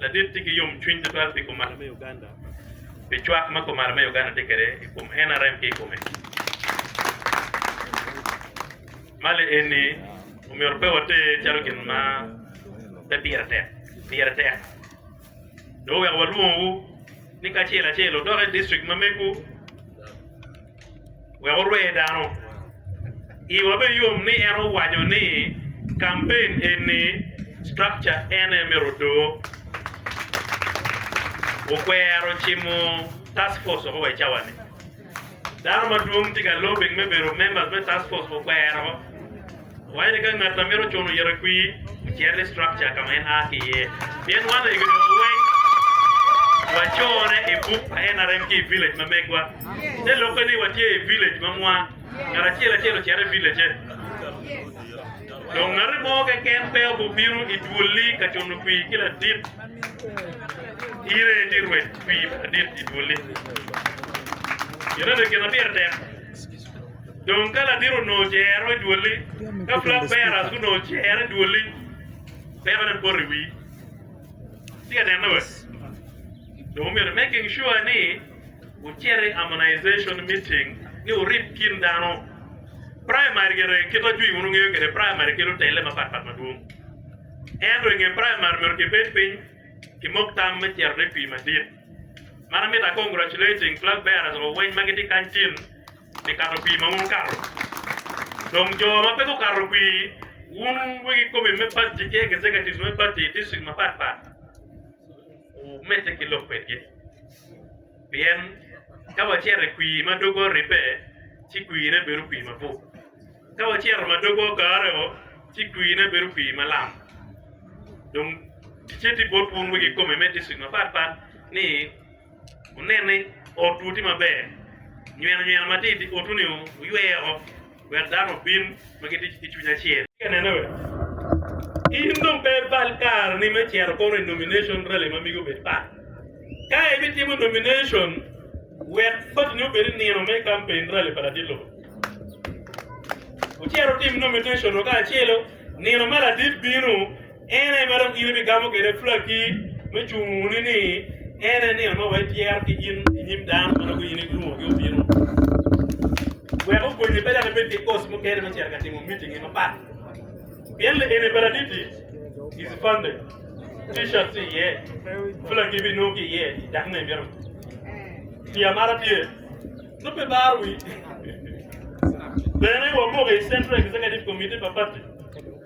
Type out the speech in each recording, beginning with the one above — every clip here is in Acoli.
Ladit tye ki yomcwiny tutwal pi kumalo me Uganda pi cwak ma kumalo me Uganda tye kwede i kom nrm ki i kome. Mali eni omyero pe water calo gin ma pe pire tek, pire tek. Dong wek walwongwu ni kacel acel wudok i district ma megu. wek orwe dano. Iwa bene yom ni en owaco ni kampen eni structure en aye myero odo. Okwero cimo task force woko wa i cawa-ni. Dano madwong tye ka lobbying me bedo members me task force okwero. Wayene ka ngat ma mito cuno yito i kwi ocito i structure ka ma en a ki iye. Pien wan oeggi dong weng wacore i buk pa NRM ki i village ma megwa. Te lokke ni watye i village ma mwa, ngat acel acel ocito i village-ce. Dong ngati mo keken pe obi obino i dwolli ka cuno kwi ki ladit. Ire ti rwed kwi pa ladit i dwolli. Yito ni gin ma pire tek. Dong ka latin onongo cero i dwoli, ka flag bearers gunongo cero i dwoli, peko dong poto i wi. Tye ka neno we? Dong omyero making sure ni wucito i harmonization meeting ni wurib kin dano. Primary gire kit ajwi wun wungeyo kwede primary kelo tele mapat pat madwong. Ento inge primary myero kibed piny kimok tam me cero ne kwii madit. Man amito a congratulating flag bearers wa weng ma gitye kany tin pi kato kwir ma wun wukato. Dong jo ma pe gukato kwir, wun wegi komin me pati ki executives me pati i district mapat pat wumedde ki lok kwedgi. Pien ka wacito i kwir ma doge oribbe, ci kwirre bedo kwir mabup. Ka wacito ma doge ogarreo, ci kwirre bedo kwir malam. Dong ticce tye bot wun wegi komin me district mapat pat ni, wunen ni otwu tye maber, nyweno nyweno matir i otu-ni wuywe woko, wek dano obin ma gitye ki cwiny acel. In dong pe ibal kareni me cito kono i nomination rally ma mege obed pat. Ka ibitimo nomination, wek patini obed i nino me campaign rally pa ladit lobo. Wucit wutim nomination-nu kacelo, nino ma ladit bino, En aye ma dong in ibigamo kwede pulaki me cunguni, ni en aye nino ma wa ityero ki in i nyim dano ma nongo in ilwongogi obino, wek okonyi pe dok ibed ki koc mukene me cito ka timo mitingi mapat. Pien lieni paraditi i Cipande, T-shirt tye iye, pulaki ibinongo ki iye i dak ma imito. Pi amara tye, nongo pe ibaro wii. Bene, wamoko i Central Executive Committee pa pati.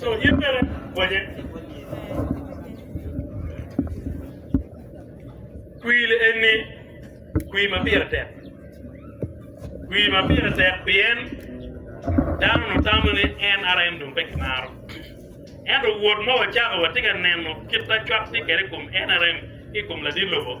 So in bene konye. Kwir eni kwir ma pire tek. Kwir ma pire tek pien dano nutamo ni NRM dong pe kimaro. Ento wot ma wacako watye ka neno kit ma cwak tye kwede i kom NRM ki i kom ladit lobo,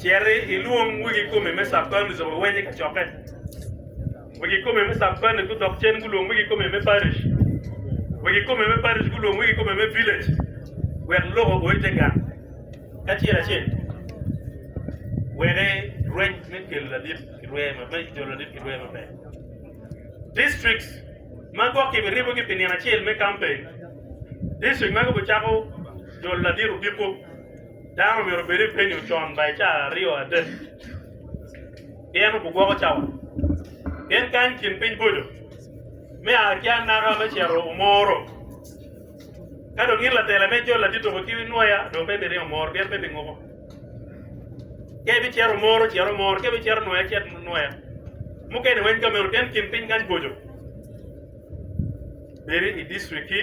Citi ilwong wegi kome me Capan lucobo awenye i kacokke. Wegi kome me Capan gudok cen gulwong wegi kome me parish. Wegi kome me parish gulwong wegi kome me village wek lok ogo i te gang kacel acel. Wede rweny me kelo ladit ki rwe ma me jolo ladit ki rwe maber. Districts ma gwok kibiribogi pi nino acel me campaign. District ma kibicako jolo ladit odiko. Dano omyero obed i penyo con bai ca aryo adek pien gugwoko cawa. Pien kany kin piny boco me aa ki anaka me cito omoro. Ka dong in latela me jol ati tuku ki nwoya dong pe ibiringo omoro pien pe ibinguko. Ka ibicito omoro cit omoro, ka ibicito nwoya cit nwoya. Mukene weny ka meno pien kin piny kany boco. Bedi i district ki.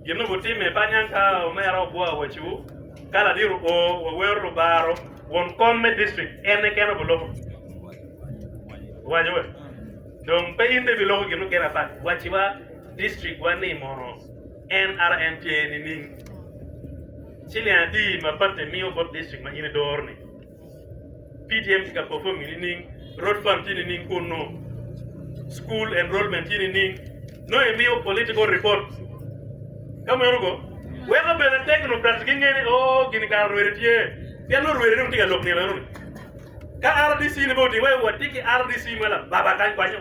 Gin ma gutimme pa niang ka omera ogwowa waco ka ladiro o wa wero lubaro won kom me district en eken obi loko waco we dong pe in be bi loko gin mukene apat waci wa district wa ni mono NRM tye nining ciling adi ma patte miyo bot district ma in idoro ni. PTM tye ka performing nining, road fund tye nining kunu, school enrollment tye nining, nongo imiyo political report ka meno go weko bene technocrats ginge ni oh gini kara rwede tye pien nongo rwede dong tye ka lok nino enoni ka RDC ni bene otimme watye ki RDC ma lababa kany kwanyo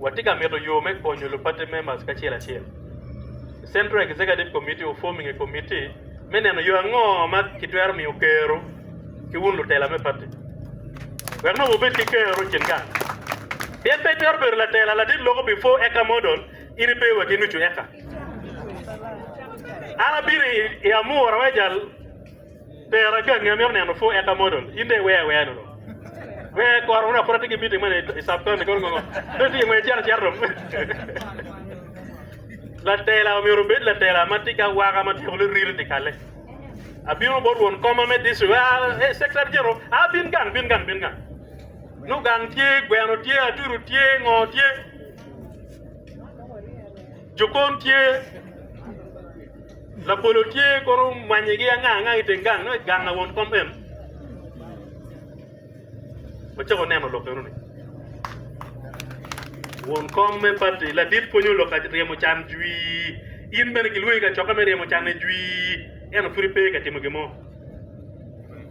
Watye ka mito yo me konyo lubatte me mac kacel acel. Central Executive Committee oform i nge komitti me neno yo ango ma kitwero miyo Kero ki wun lutela me pati wek nongo wubed ki kero i kin gang. Pien pe itwero bedo latela ladit loko pi 4 eka model in ipe wa ki nucu eka. An abino i Amur, Aweja, Pero agangi amito neno pho eka model in dong iwea awea nono wee kor wuna pud atye ki meeting mene i sub county kono ngongo dong itye ngwec icito acita dong latela omyero obed latela ma tye ki awaka ma tyeko liriri dyekale abino bot won koma me district ee secretary general aa bin gang bin gang bin gang nongo gang tye gweno tye atudu tye ngo tye Jokon tye, labolo tye kono mwanyigi anga anga i teng gang, nongo i gang na won kom meno. Wacako neno lok eno ni won kom me pati ladit pwonyo lok ka ryemo can jwi. In bene kilwongi i kacokke me ryemo canne jwi, ento pud ipe ka timo gin mo.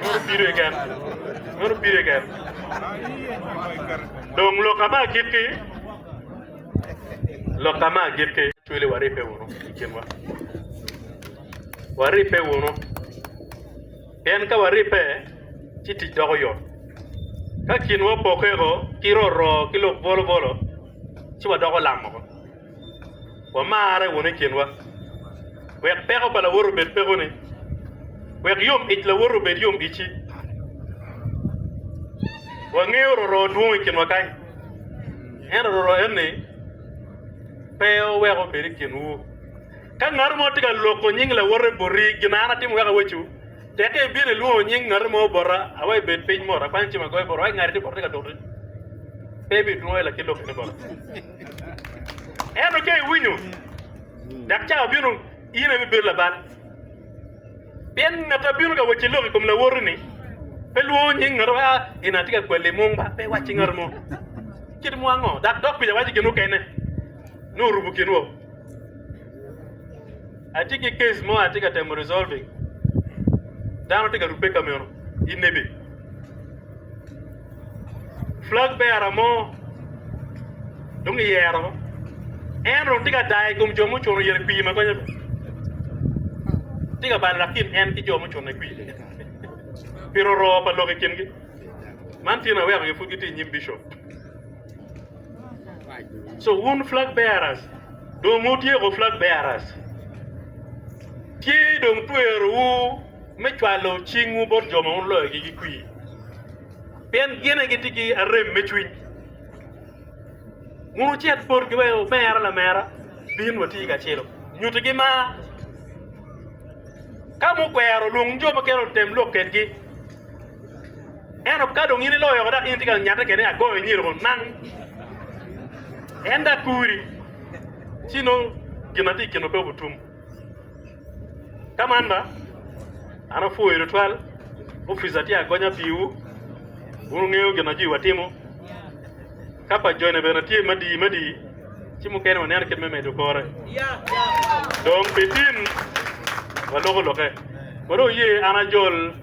Meno pire keken. Meno pire keken. Dong loka me agikki, loka me agikki, cwele waribbe wunu i kinwa. Waribbe wunu. Pien ka waribbe, ci tic doko yot. Ka kinwa opokke woko ki roroo ki lok bwolobwolo, ci wadoko lam woko. wamarre wunu i kinwa, wek peko pa lawote obed pekoni, wek yom ic lawote obed yom icci. Wangeyo roroo dwong i kinwa kany, ento roroo eni pe oweko obed i kinwu. Ka ngati mo tye ka loko nying lawote boti gin an atimo wek awecu, tekke ibino ilwongo nying ngati mo bota, awaco ibed piny mot, akwanyo cim agoyo bota, wek ngati tye bota tye ka doti, pe ibidwongo i lakit lokkeni bota. Ento ca iwinyo, dok ca obino, in ibibedo labal. Pien ngat ma bino ka wacci lok i kom lawoti-ni, pe lwongo nying ngat ma gin atye ka kweli i mung ba, pe wacci ngat mo kit mo ango, dok dok kuca wacci gin mukene nongo orumo kinwa. Atye ki case mo atye ka temo resolving dano tye ka rubbe ka meno i nebe flag bearer mo dong kiyero woko en dong tye ka dayo i kom jo mucung i pii ma gonye tye ka balo latin en ki jo mucung i pii pi roro pa lok i kingi man tye naweko pud gitye i nyim bicop. So wun flag bearers dong wutyeko flag bearers. Tye dong twerowu me cwalo cingwu bot jo ma wun loyogi ki kwir. Pien gin aye gitye ki arem me cwiny. Wun wucit botgi wek omera lamera bin wati kacelo. Nyutigi mar. Ka mukwero, lwong jo mukene otem lok kedgi. Ento ka dong in iloyo weko dok in itye ka nyate kene ni agoyo inyiro kun nang en dok kuri ci nongo gin ma tye i kinu pe obutum. Ka man ba an apwoyo tutwal opica tye agonya piwu wun wungeyo gin ma jwiwa timo ka pa jone bene tye madii madii ci mukene waneno kit me medo kore dong pi tin waloko lokke. Kore wuye an ajol.